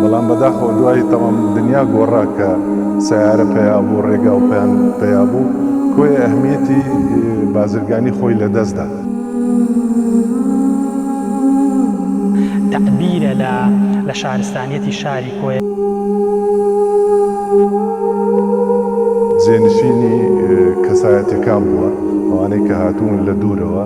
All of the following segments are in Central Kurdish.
بەڵام بەداخەوە دوای تەمام دنیا گۆڕا کە سەیارە پەیا بوو، ڕێگا و پەیام پەیا بوو، کۆیە ئەهمیەتی بازرگانی خۆی لە دەست دا. تەعبیرە لە لە شارستانیەتی شاری کۆیە. جێنشینی کەسایەتیەکان بووە، ئەوانەی کە هاتوون لە دوورەوە.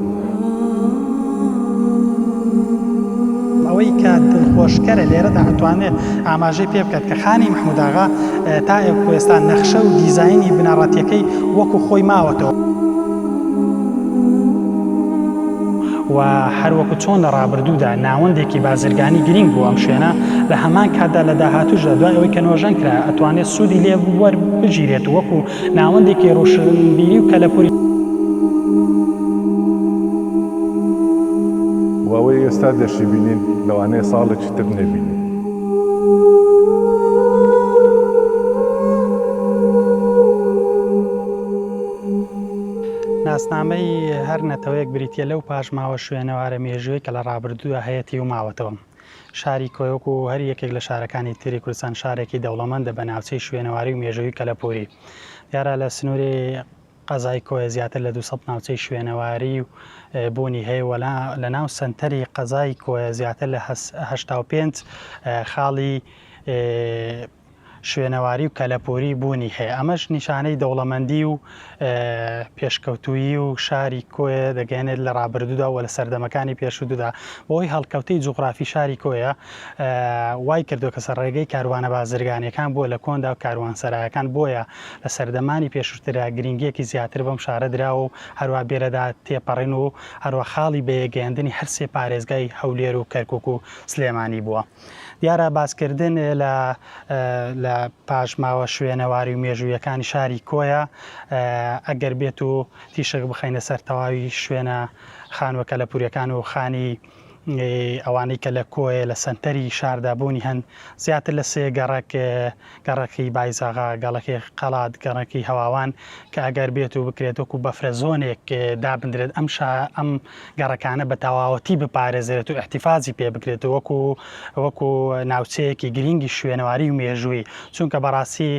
ئەوەی کە دڵخۆشکەرە لێرەدا ئەتوانێت ئاماژەی پێ بکات کە خانی مەحمود ئاغا تا ئێکوێستا نەخشە و دیزاینی بنەڕەتیەکەی وەکو خۆی ماوەتەوە. و هەروەکو چۆن لە ڕابردوودا ناوەندێکی بازرگانی گرینگ بوو ئەم شوێنە لە هەمان کاتدا لە داهاتوشدا دوای ئەوەی کە نۆژەن کرا ئەتوانێت سوودی لێ وەربگیرێت وەکو ناوەندێکی ڕوشنبیری و کەلەپوری. و ئەوەی ئێستا دەشیبینین لەوانەیە ساڵێکی تر نەبینین. ناسنامەی هەر نەتەوەیەک بریتییە لەو پاشماوە شوێنەوارە مێژوویەی کە لە ڕابردوودا هەیەتی و ماوەتەوە. شاری کۆیە وەکو هەر یەکێک لە شارەکانی تری کوردستان شارێکی دەوڵەمەندە بە ناوچەی شوێنەواری و مێژووی کەلەپووری. دیارە لە سنووری قەزای کۆیە زیاتر لە دوو سەد ناوچەی شوێنەواری و بوونی هەیە و لە ناو سەنتەری قەزای کۆیە زیاتر لە هەشتا و پێنج خاڵی شوێنەواری و کەلەپووری بوونی هەیە، ئەمەش نیشانەی دەوڵەمەندی و پێشکەوتوویی و شاری کۆیە دەگەیەنێت لە ڕابردوودا و لە سەردەمەکانی پێشوودا بەهۆی هەڵکەوتەی جوغرافی شاری کۆیە وای کردووە کە سەرڕێگەی کاروانە بازرگانیەکان بووە لە کۆندا و کاروانسەرایەکان بۆیە لە سەردەمانی پێشووتردا گرنگیەکی زیاتر بەم شارە دراوە و هەروە بێرەدا تێپەڕین و هەروە خاڵی بەیەکگەیاندنی هەرسێ پارێزگای هەولێر و کەرکوک و سلێمانی بووە. دیارە باسکردن لە پاشماوە شوێنەواری و مێژوویەکانی شاری کۆیە ئەگەر بێت و تیشک بخەینە سەر تەواوی شوێنە خانوە کەلەپورەکان و خانی ئەوانەی کە لە کۆیە لە سەنتەری شاردا بوونی هەن زیاتر لە سێ گەڕک گەڕەکی بایزاغا، گەڵەکی قەڵات، گەڕەکی هەواوان کە ئەگەر بێت و بکرێت وەکوو بەفرەزۆنێک دابندرێت ئەم شا ئەم گەڕەکانە بە تەواوەتی بپارێزرێت و ئیحتیفازی پێ بکرێت و وەکوو وەکوو ناوچەیەکی گرینگی شوێنەواری و مێژووی چونکە بەڕاستی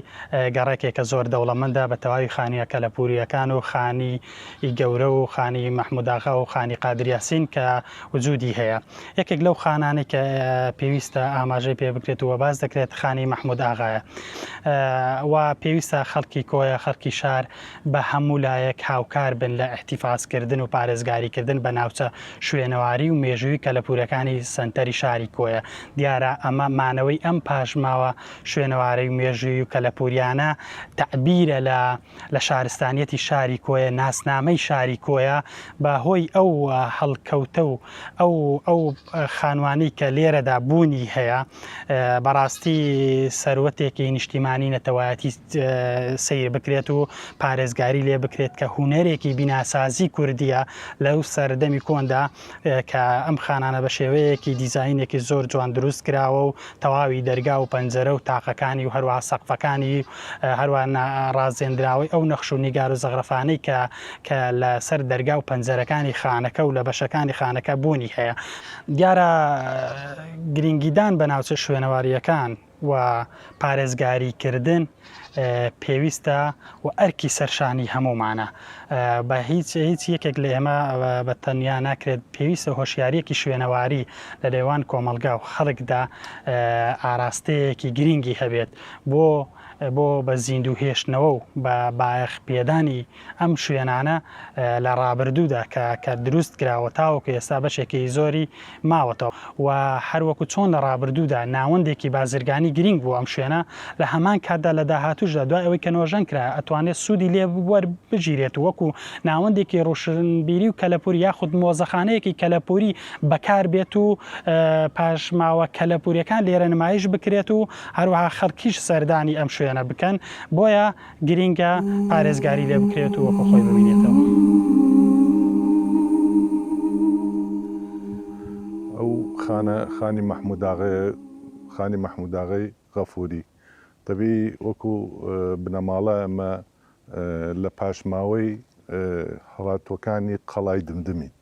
گەڕەکێکە زۆر دەوڵەمەندە بە تەواوی خانوویە کەلەپوورییەکان و خانی ی گەورە و خانی مەحمود ئاغا و خانی قادر یاسین کە وجودی هەیە یەکێک لەو خانانەی کە پێویستە ئاماژەی پێ بکرێت و باس دەکرێت خانی مەحمود ئاغایە و پێویستە خەڵکی کۆیە خەڵکی شار بە هەموو لایەک هاوکار بن لە ئیحتیفاز کردن و پارێزگاری کردن بە ناوچە شوێنەواری و مێژووی کەلەپورەکانی سەنتەری شاری کۆیە دیارە ئەمە مانەوەی ئەم پاشماوە شوێنەوارەی و مێژووی و کەلەپوریانە تەعبیرە لە لە شارستانیەتی شاری کۆیە، ناسنامەی شاری کۆیە بە هۆی ئەو هەڵکەوتە و ئەو ئەو خانوانەی کە لێرەدا بوونی هەیە بەڕاستی سەروەتێکی نیشتیمانی نەتەوایەتی سەیر بکرێت و پارێزگاری لێ بکرێت کە هونەرێکی بیناسازی کوردیە لەو سەردەمی کۆندا کە ئەم خانانە بە شێوەیەکی دیزاینێکی زۆر جوان دروست کراوە و تەواوی دەرگا و پەنجەرە و تاقەکانی و هەروەها سەقفەکانی هەروە ڕازێنراوەی ئەو نەخش و نیگار و زەغرەفانەی کە کە لە سەر دەرگا و پەنجەرەکانی خانەکە و لە بەشەکانی خانەکە بوونی هەیە دیارە گرینگیدان بە ناوچە شوێنەوارییەکان. و پارێزگاری کردن پێویستە و ئەرکی سەرشانی هەموومانە بە هیچ هیچ یەکێک لە ئێمە بە تەنیا ناکرێت پێویستە هۆشیاریەکی شوێنەواری لە نێوان کۆمەلگا و خەڵکدا ئاراستەیەکی گرینگی هەبێت بۆ بۆ بە زیندوو هێشتنەوە و بە بایەخ پێدانی ئەم شوێنانە لە ڕابردوودا کە کە دروست کراوە تاوەکو ئێستا بەشێکی زۆری ماوەتەوە و هەروەکو چۆن لە ڕابردوودا ناوەندێکی بازرگانی گرینگ بوو ئەم شوێنە لە هەمان کاتدا لە داهاتووشدا دوای ئەوەی کە نۆژەن کرا ئەتوانێت سوودی لێ وەربگیرێت و وەکو ناوەندێکی ڕوشنبیری و کەلەپووری یاخود مۆزەخانەیەکی کەلەپووری بەکار بێت و پاشماوە کەلەپووریەکان لێرە نمایش بکرێت و هەروەها خەڵکیش سەردانی ئەم شوێنە بکەن بۆیە گرینگە پارێزگاری لێ بکرێت و وەکو خۆی ببینێتەوە. ئەو خانە خانی مەحموداغێ خانی مەحموداغی غەفوری دەبی وەکو بنەماڵە ئەمە لە پاشماوەی هەڵاتوەکانی قەڵای دمدمین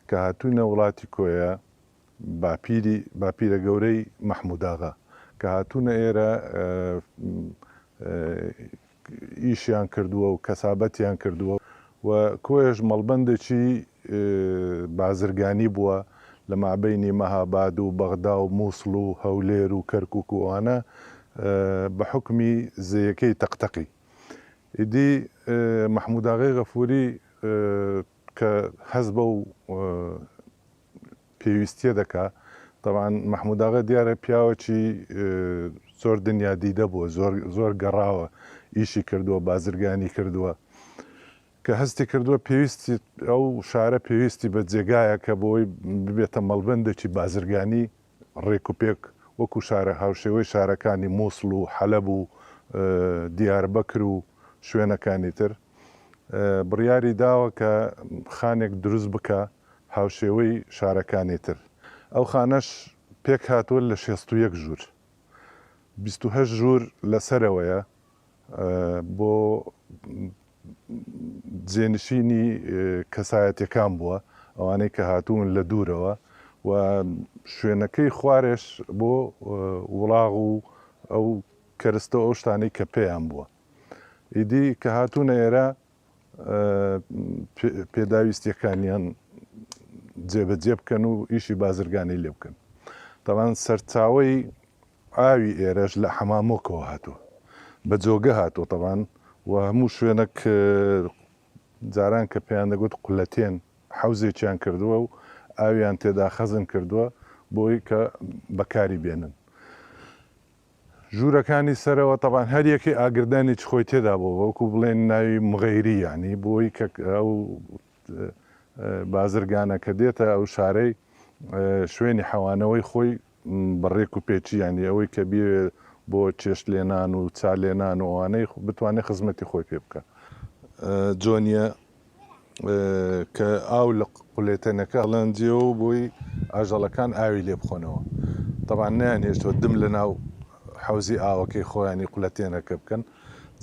کە هاتوونە وڵاتی کۆیە باپیری باپیرە گەورەی مەحموداغا کە هاتوونە ئێرە ئیشیان کردووە و کەسابەتیان کردووە و کۆیەش مەڵبەندێکی بازرگانی بووە لە مابەینی مەهاباد و بەغدا و مووسڵ و هەولێر و کەرکووک و ئەوانە بە حوکمی زێیەکەی تەقتەقی. ئیدی مەحموداغای غەفووری کە هەست بەو پێویستیە دەکا تەبعەن مەحمود ئاغا دیارە پیاوەکی زۆر دنیا دیدە بووە زۆر زۆر گەڕاوە ئیشی کردووە بازرگانی کردووە کە هەستی کردووە پێویستی ئەو شارە پێویستی بە جێگایە کە بۆی ببێتە مەڵبندێکی بازرگانی ڕێکوپێک وەکو شارە هاوشێوەی شارەکانی موسڵ و حەلەب و دیاربەکر و شوێنەکانی تر بڕیاری داوە کە خانێک دروست بکا هاوشێوەی شارەکانی تر ئەو خانەش پێکهاتووە لە شێست و یەک ژوور بیست و هەشت ژوور لە سەرەوەیە بۆ جێنشینی کەسایەتیەکان بووە ئەوانەی کە هاتوون لە دوورەوە و شوێنەکەی خوارێش بۆ وڵاغ و ئەو کەرستە ئەو شتانەی کە پێیان بووە ئیدی کە هاتوونە ئێرە پێداویستیەکانیان جێبەجێ بکەن و ئیشی بازرگانی لێ بکەن تاوان سەرچاوی ئاوی ئێرەش لە حەمامۆکەوە هاتووە بە جۆگە هاتۆ تەوان و هەموو شوێنەک جاران کە پێیان دەگوت قولەتێن حوزێکیان کردووە و ئاویان تێدا خەزن کردووە بۆی کە بەکاری بێنن ژوورەکانی سەرەوە تەبان هەر یەکەی ئاگردانی چ خۆی تێدا بوو وەکو بڵێن ناوی مغەیری یانی بۆی کە ئەو بازرگانە کە دێتە ئەو شارەی شوێنی حەوانەوەی خۆی بە ڕێک و پێچی یانی ئەوەی کە بێ بۆ چێشت لێنان و چا لێنان و ئەوانەی بتوانێت خزمەتی خۆی پێ بکە جۆنیە کە ئاو لە قولێتەنەکە هەڵەنجێوە و بۆی ئاژەڵەکان ئاوی لێ بخۆنەوە. تەبعەن نەیانهێشتووە دم لە ناو حەوزی ئاوەکەی خۆیانی قولەتێنەکە بکەن.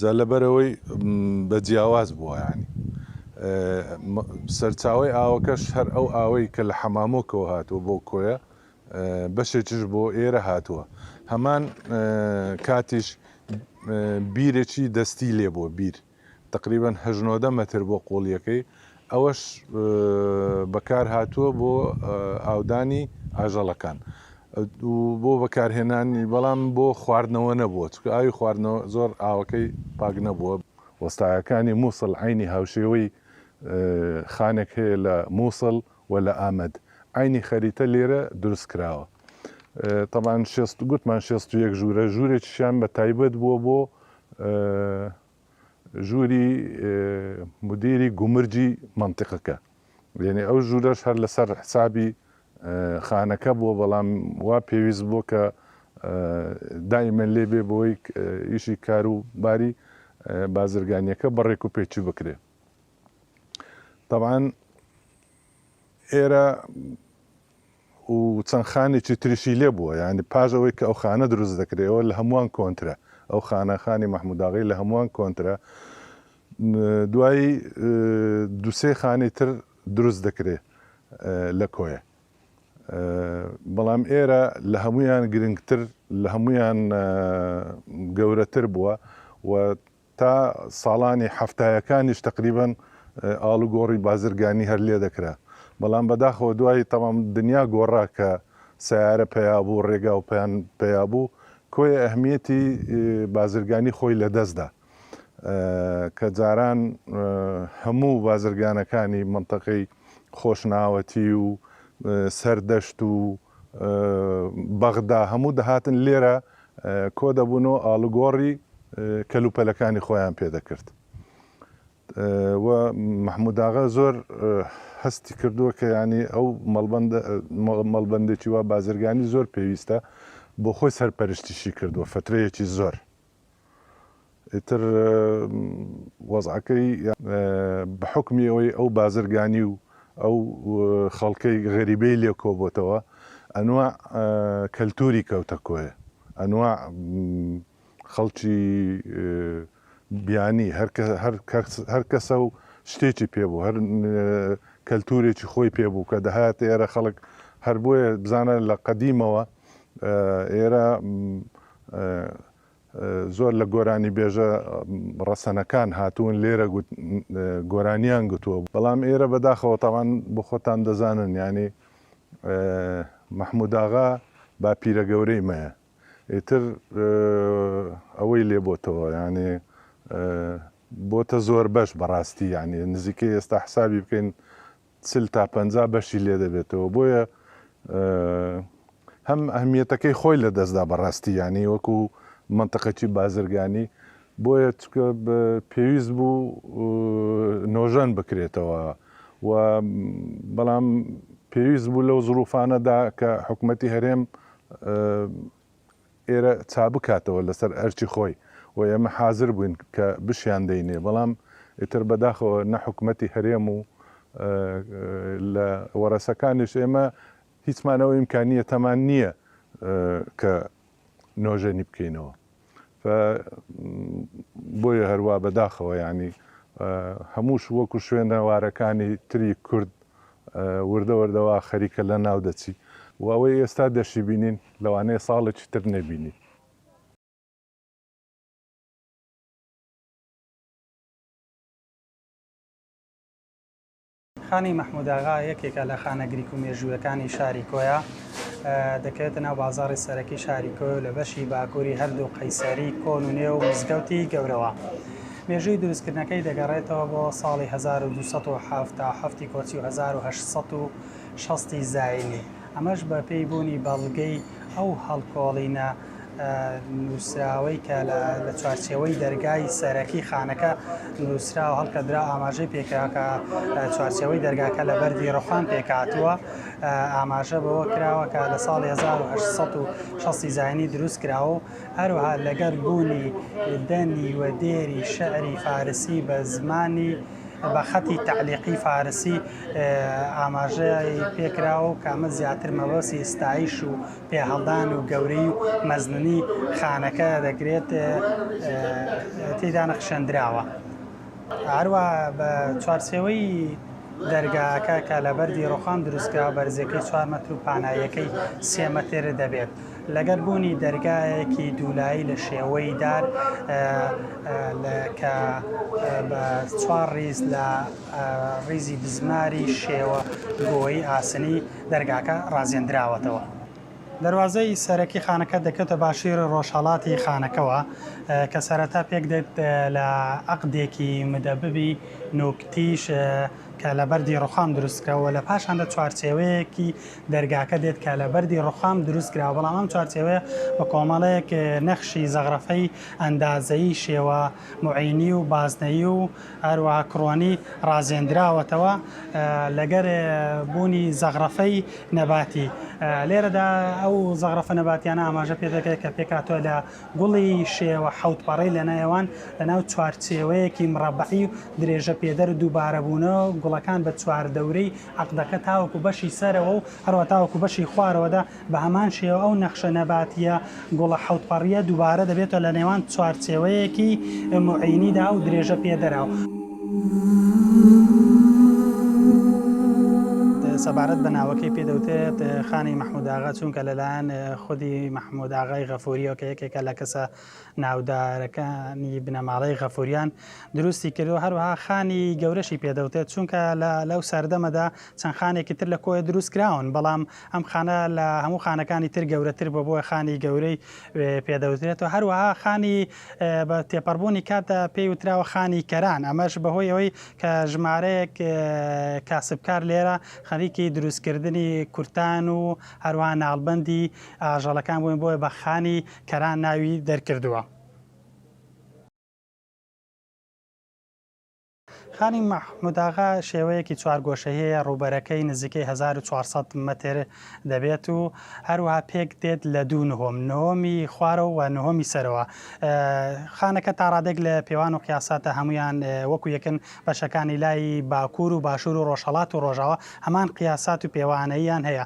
جا لەبەرئەوەی بە جیاواز بووە یانی. سەرچاوەی ئاوەکەش هەر ئەو ئاوەی کە لە حەمامۆکەوە هاتووە بۆ کۆیە، بەشێکیش بۆ ئێرە هاتووە. هەمان کاتیش بیرێکی دەستی لێ بووە، بیر. تەقریبەن هەژ نۆدە مەتر بۆ قوڵییەکەی، ئەوەش بەکارهاتووە بۆ ئاودانی ئاژەڵەکان و بۆ بەکارهێنانی، بەڵام بۆ خواردنەوە نەبووە، چونکە ئاوی خواردنەوە زۆر ئاوەکەی پاک نەبووە. وەستایەکانی مووسڵ عەینی هاوشێوەی خانێک هەیە لە مووسڵ و لە ئامەد، عەینی خەریتە لێرە دروست کراوە. تەبعەن شێست گوتمان شێست و یەک ژوورە، ژوورێکیشیان بە تایبەت بووە بۆ ژووری مودیری گومرگی مەنتیقەکە، یەنی ئەو ژوورەش هەر لەسەر حسابی خانەکە بووە، بەڵام وا پێویست بووە کە دائیمەن لێ بێ بۆی ئیشی کار و باری بازرگانیەکە بە ڕێک و پێکی بکرێ. تەبعەن ئێرە و چەند خانێکی تریشی لێ بووە یانی پاش ئەوەی کە ئەو خانە دروست دەکرێەوە لە هەمووان کۆنترە ئەو خانە خانی مەحموداغی لە هەمووان کۆنترە دوایی دوسێ خانی تر دروست دەکرێ لە کۆیە بەڵام ئێرە لە هەمویان گرنگتر لە هەمویان گەورەتر بووە و تا ساڵانی حەفتایەکانیش تەقریبەن ئاڵوگۆڕی بازرگانی هەر لێ دەکرا، بەڵام بەداخەوە دوای تەمام دنیا گۆڕا کە سەیارە پەیا بوو، ڕێگا و پەیان پەیا بوو، کۆیە ئەهمیەتی بازرگانی خۆی لە دەست دا، کە جاران هەموو بازرگانەکانی مەنتەقەی خۆشناوەتی و سەردەشت و بەغدا هەموو دەهاتن لێرە کۆدەبوون و ئاڵوگۆڕی کەلوپەلەکانی خۆیان پێ دەکرد و مەحمووداغا زۆر هەستی کردووە کە یانی ئەو مەڵبەندێکی وا بازرگانی زۆر پێویستە بۆ خۆی سەرپەرشتیشی کردووە فترەیەکی زۆر. ئیتر وەزعەکەی بە حوکمی ئەوەی ئەو بازرگانی و ئەو خەڵکەی غەریبەی لێ کۆبۆتەوە ئەنواع کەلتوری کەوتە کۆیە ئەنواع خەڵکی بیانی هەر کەسە و شتێکی پێ بوو هەر کەلتورێکی خۆی پێ بوو کە دەهاتە ئێرە خەڵک هەر بۆیە بزانە لە قەدیمەوە ئێرە زۆر لە گۆرانیبێژە ڕەسەنەکان هاتوون لێرە گۆرانیان گوتووە، بەڵام ئێرە بەداخەوە تاوان بۆ خۆتان دەزانن یانی مەحموداغا باپیرە گەورەی مەیە ئیتر ئەوەی لێ بۆتەوە یانی بۆتە زۆربەش بەڕاستی یانی نزیکەی ئێستا حسابی بکەین چل تا پەنجا بەشی لێ دەبێتەوە بۆیە هەم ئەهمیەتەکەی خۆی لە دەستدا بەڕاستی یانی وەکو منتەقەکی بازرگانی بۆیە چکە پێویست بوو نۆژەن بکرێتەوە و بەڵام پێویست بوو لەو زروفانەدا کە حکوومەتتی هەرێم ئێرە چابکاتەوە لەسەر ئەرکی خۆی و ئێمە حازر بووین کە بشیان دەینێ بەڵام ئیتر بەداخەوە نە حکومەتی هەرێم و لە وەڕەسەکانیش ئێمە هیچمان ئەو ئیمکانیەتەمان نییە کە نۆژەنی بکەینەوە بۆیە هەروە بەداخەوە ینی هەمووش وەکو شوێنەوارەکانی تری کورد وردە وردە وا خەریکە لە ناو دەچی و ئەوەی ئێستا دەشیبینین لەوانەیە ساڵێکی تر نەبینین. خانەی مەحمووداغا یەکێکە لە خانە گریک و مێژوویەکانی شاری کۆیە، دەکەوێتە ناو بازاڕی سەرەکی شاری کۆیە و لە بەشی باکووری هەردوو قەیسەری کۆن و نوێ و مزگەوتی گەورەوە. مێژووی دروستکردنەکەی دەگەڕێتەوە بۆ ساڵی هەزار و دوو سەد و حەفتا حەفتی کۆچی و هەزار و هەشت سەد و شەست ی زاینی، ئەمەش بە پێی بوونی بەڵگەی ئەو هەڵکۆڵینە نووسراوەی کە لە چوارچێوەی دەرگای سەرەکی خانەکە نووسرا و هەڵکەدرا ئاماژەی پێکرا کە چوارچێوەی دەرگاکە لە بەردی ڕوخان پێکهاتووە ئاماژە بەوە کراوە کە لە ساڵی هەزار و هەشت سەد و شەست ی زاینی دروست کراوە و هەروەها لەگەل بوونی دەنی و دێری شعری فارسی بە زمانی بە خەتی تەعلیقی فارسی ئاماژەی پێکراوە و کە ئەمە زیاتر مەبەستی ستایش و پێهەڵدان و گەورەی و مەزنی خانەکە دەگرێت تێیدا نەخشێندراوە. هەروەها بە چوارچێوەی دەرگاکە کە لە بەردی ڕۆخام دروستکراوە بەرزیەکەی چوار مەتر و پاناییەکەی سێ مەتر دەبێت لەگەر بوونی دەرگایەکی دوولایی لە شێوەی دار کە بە چوار ڕیز لە ڕیزی بزماری شێوە گۆی ئاسنی دەرگاکە ڕازێندراوەتەوە. دەروازەی سەرەکی خانەکە دەکەوتە باشووری ڕۆژهەڵاتی خانەکەوە، کە سەرەتا پێکدێت لە عەقدێکی مدەببی نوکتیش کە لە بەردی ڕوخام دروستکراوە و لە پاشاندا چوارچێوەیەکی دەرگاکە دێت کە لە بەردی ڕوخام دروستکراوە، بەڵام ئەم چوارچێوەیە بە کۆمەڵێک نەخشی زەغرەفەی ئەندازەیی شێوە موعینی و بازنەیی و هەروەها کڕۆنی ڕازێندراوەتەوە لەگەر بوونی زەغرەفەی نەباتی لێرەدا ئەو زەغرەفە نەباتیانە ئاماژە پێ دەکرێت کە پێکاتوە لە گوڵی شێوە حەوت پەڕەی لە نێوان لە ناو چوارچێوەیەکی مڕەبەعی و درێژە پێدەر و دووبارەبوونەوە گوڵەکان بە چواردەورەی عەقدەکە تاوەکو بەشی سەرەوە و هەروە تاوەکو بەشی خوارەوەدا بە هەمان شێوە ئەو نەخشە نەباتییە گوڵە حەوت پەڕییە دووبارە دەبێتەوە لە نێوان چوارچێوەیەکی موعینیدا و درێژە پێ دەراو. سەبارەت بە ناوەکەی پێ دەوتێت خانی مححمود ئاغا چونکە لەلایەن خودی مححمود ئاغای غەفوریەوە کە یەکێکە لە کەسە ناودارەکانی بنەماڵەی غەفوریان دروستی کردو هەروها خانی گەورەشی پێدەوتێت چونکە لەو سەردەمەدا چەند خانێکی تر لە کۆی دروستکراون بەڵام ئەم خانە لە هەموو خانەکانی تر گەورەتر بووە، بۆیە خانی گەورەی پێ دەوترێتەوە، هەروەها خانی بە تێپەڕبوونی کاتدا پێی وتراوە خانی کەران، ئەمەش بەهۆی ئەوەی کە ژمارەیەک کاسبکار لێرە خەریکی دروستکردنی کورتان و هەروەها ناڵبەندی ئاژەڵەکان بوون، بۆیە بە خانی کەران ناوی دەرکردووە. خانی مەحموداغا شێوەیەکی چوارگۆشەیەیە، ڕووبەرەکەی نزیکەی هەزار و چوار سەد مەتر دەبێت و هەروەها پێک دێت لە دوو نهۆم، نهۆمی خوارەوە و نهۆمی سەرەوە. خانەکە تا ڕادەیەک لە پێوان و قیاسە تا هەموویان وەکو یەکن، بەشەکانی لای باکوور و باشوور و ڕۆژهەڵات و ڕۆژاوا هەمان قیاسات و پێوانەییان هەیە،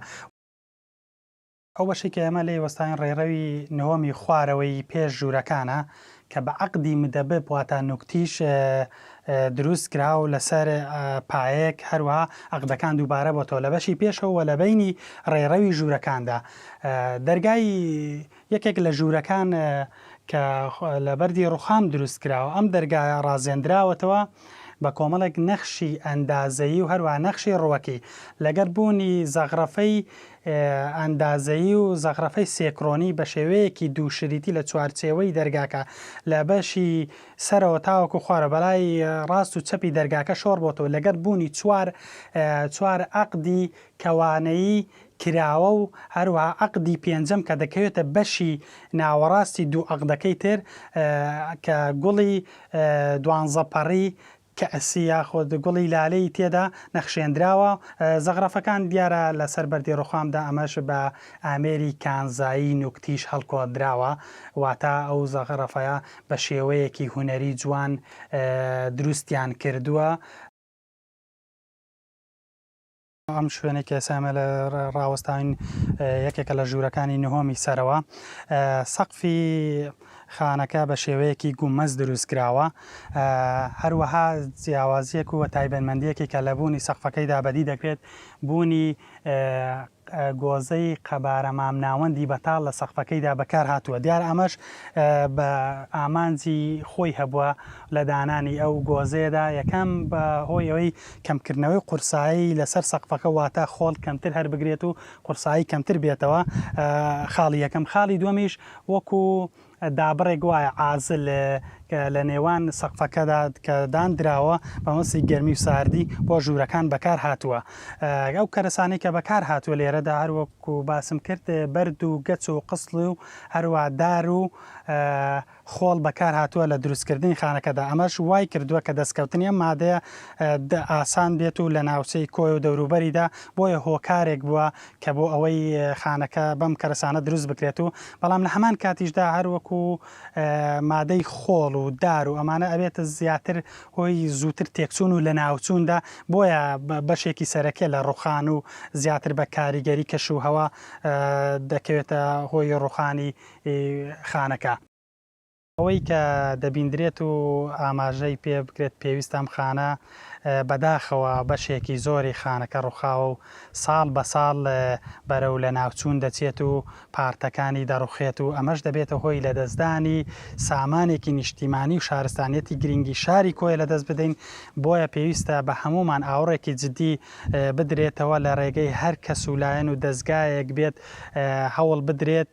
ئەو بەشەی کە ئێمە لێی وەستاوین ڕێڕەوی نهۆمی خوارەوەی پێش ژوورەکانە کە بە عەقدی مدەبب واتە نوکتیش دروست کرا و لەسەر پایەک هەروەها عەقدەکان دووبارە بۆتەوە لە بەشی پێشەوە و لە بینی ڕێڕەوی ژوورەکاندا دەرگای یەکێک لە ژوورەکان کە لە بەردی ڕوخام دروست کراوە ئەم دەرگایە ڕازێنراوەتەوە بە کۆمەڵێک نەخشی ئەندازەیی و هەروە نەخشی ڕوەکی لەگەر بوونی زەغرەفەی ئەندازەیی و زەخرەفەی سێکرۆنی بە شێوەیەکی دوو شریتی لە چوارچێوەی دەرگاکە لە بەشی سەرەوە تاوەکو خوارەوە بەلای ڕاست و چەپی دەرگاکە شۆڕ بۆتەوە لەگەڵ بوونی چوار چوار عەقدی کەوانەیی کراوە و هەروەها عەقدی پێنجەم کە دەکەوێتە بەشی ناوەڕاستی دوو عەقدەکەی تر کە گوڵی دوانزە پەڕی کەعسی یاخود گوڵی لالەی تێدا نەخشێندراوە، زەغرەفەکان دیارە لەسەر بەردی ڕوخامدا ئەمەش بە ئامێری کانزایی نوکتیش هەڵکۆدراوە واتا ئەو زەغرەفەیە بە شێوەیەکی هونەری جوان دروستیان کردووە، ئەم شوێنەی کە ئێستا ئێمە لە ڕاوەستاوین یەکێکە لە ژوورەکانی نهۆمی سەرەوە سەقفی خانەکە بە شێوەیەکی گومەز دروستکراوە هەروەها جیاوازیەک و تایبەتمەندیەکی کە لە بوونی سەقفەکەیدا بەدی دەکرێت بوونی گۆزەی قەبارە مامناوەندی بەتاڵ لە سەقفەکەیدا بەکار هاتووە دیار ئەمەش بە ئامانجی خۆی هەبووە لە دانانی ئەو گۆزێدا یەکەم بە هۆی ئەوەی کەمکردنەوەی قورسایی لەسەر سەقفەکە واتە خۆڵ کەمتر هەربگرێت و قورسایی کەمتر بێتەوە خاڵی یەکەم خاڵی دووەمیش وەکو دابڕێک وایە عازل کە لە نێوان سەقفەکەدا کە داندراوە بەمەسی گەرمی و ساردی بۆ ژوورەکان بەکار هاتووە ئەو کەرەسانەی کە بەکار هاتووە لێرەدا هەر وەکو باسم کرد بەرد و گەچ و قسڵ و هەروە دار و خۆڵ بەکار هاتووە لە دروستکردنی خانەکەدا، ئەمەش وای کردووە کە دەستکەوتنی ئەم مادەیە ئاسان بێت و لە ناوچەی کۆیە و دەوروبەریدا بۆیە هۆکارێک بووە کە بۆ ئەوەی خانەکە بەم کەرەسانە دروست بکرێت و بەڵام لە هەمان کاتیشدا هەر وەکو مادەی خۆڵ و دار و ئەمانە ئەبێت زیاتر هۆی زووتر تێکچوون و لەناوچوون دا بۆیە بەشێکی سەرەکیە لە ڕوخان و زیاتر بە کاریگەری کەش و هەوا دەکەوێتە هۆی ڕوخانی ی خانەکە. ئەوەی کە دەبیندرێت و ئاماژەی پێ بکرێت پێویستە ئەم خانە بەداخەوە بەشێکی زۆری خانەکە ڕوخاوە و ساڵ بە ساڵ بەرەو لەناوچوون دەچێت و پارتەکانی دەڕوخێت و ئەمەش دەبێتە هۆی لەدەستدانی سامانێکی نیشتیمانی و شارستانیەتی گرینگی شاری کۆیە لەدەست بدەین بۆیە پێویستە بە هەموومان ئاوڕێکی جدی بدرێتەوە لە ڕێگەی هەر کەس و لایەن و دەزگایەک بێت هەوڵ بدرێت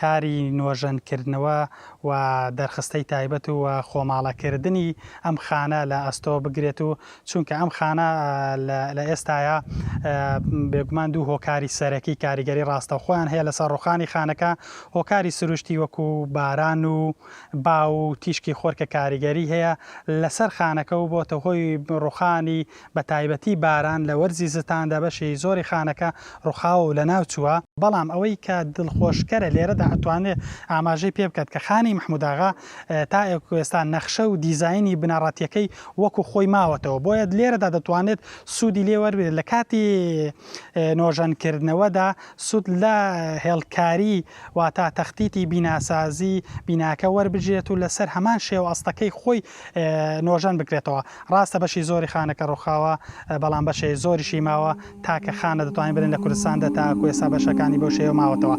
کاری نۆژەن کردنەوە و دەرخستەی تایبەت و خۆماڵە کردنی ئەم خانە لە ئەستۆ بگرێت و چونکە ئەم خانە لە ئێستایا بێگومان دوو هۆکاری سەرەکی کاریگەری ڕاستەوخۆیان هەیە لەسەر ڕوخانی خانەکە هۆکاری سروشتی وەکو باران و با و تیشکی خۆر کە کاریگەری هەیە لەسەر خانەکە و بۆتە هۆی ڕوخانی بە تایبەتی باران لە وەرزی زستاندا بەشێی زۆری خانەکە ڕوخاوە و لەناو چووە، بەڵام ئەوەی کە دڵخۆشکەرە لێرەدا ئەتوانێ ئاماژەی پێ بکات کە خانی محمود ئاغا تا ئێکوێستا نەخشە و دیزاینی بنەڕەتیەکەی وەکو خۆی ماوەتەوە بۆیە لێرەدا دەتوانێت سوودی لێ وەربگرێت لە کاتی نۆژەن کردنەوەدا سوود لە هێڵکاری واتا تەختیتی بیناسازی بیناکە وەربگرێت و لەسەر هەمان شێوە ئەستەکەی خۆی نۆژەن بکرێتەوە ڕاستە بەشی زۆری خانەکە ڕوخاوە بەڵام بەشەی زۆریشی ماوە تاکە خانە دەتوانین بلێن لە کوردستان دە تا کوێسا بەشەکانی بەو شێوە ماوەتەوە.